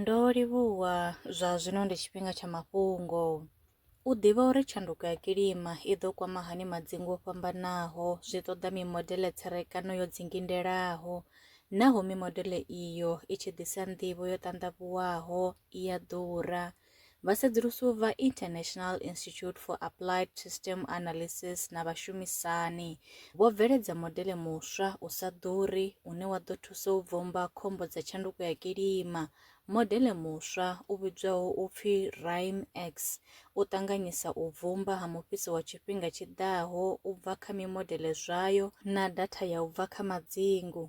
Ndo livhuwa, zwa zwino ndi tshifhinga tsha mafhungo. U ḓivha uri tshanduko ya kilima i ḓo kwama hani madzingu o fhambanaho zwi ṱoḓa mimodele tserekano yo dzingindelaho. Naho mimodele iyo i tshi ḓisa nḓivho yo ṱanḓavhuwaho, i a ḓura. Vhasedzulusi vha International Institute for Applied System Analysis na vhashumisani vho bveledza modele muswa u sa ḓuri une wa ḓo thusa u bvomba khombo dza tshanduko ya kilima. Modele muswa u vhidzwaho u pfi RIME-X u ṱanganyisa u bvumba ha mufhiso wa tshifhinga tshi ḓaho u bva kha mimodele zwayo na datha ya u bva kha madzingu.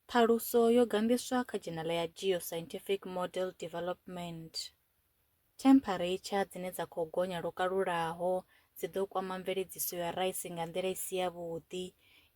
Ṱhaluso yo ganḓiswa kha dzhenala ya Geoscientific Model Development. Themphareitshar dzine dza khou gonya lwo kalulaho dzi ḓo kwama mveledziso ya raisi nga nḓila i si yavhuḓi.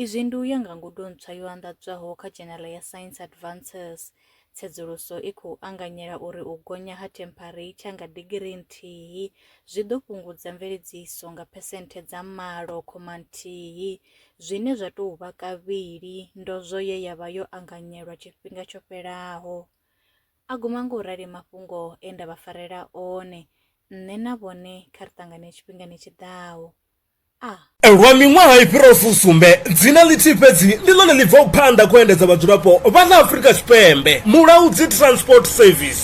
Izwi ndi u ya nga ngudo ntswa yo anḓadzwaho kha dzhenala ya Science Advances. Tsedzuluso i khou anganyela uri u gonya ha themphareitshar nga digirii nthihi zwi ḓo fhungudza mveledziso nga phesenthe dza malo khoma nthihi zwine zwa tou vha kavhili ndozwo ye ya vha yo anganyelwa tshifhinga tsho fhelaho. A guma nga u rali mafhungo e nda vha farela one, nṋe na vhone kha ri ṱangane tshifhingani tshi ḓaho. A. Lwa miṅwaha i fhiraho fusumbe, dzina ḽithihi fhedzi ndi ḽone ḽi bvaho phanḓa kha u endedza vhadzulapo vha ḽa Afrika Tshipembe, Mulaudzi Transport Service.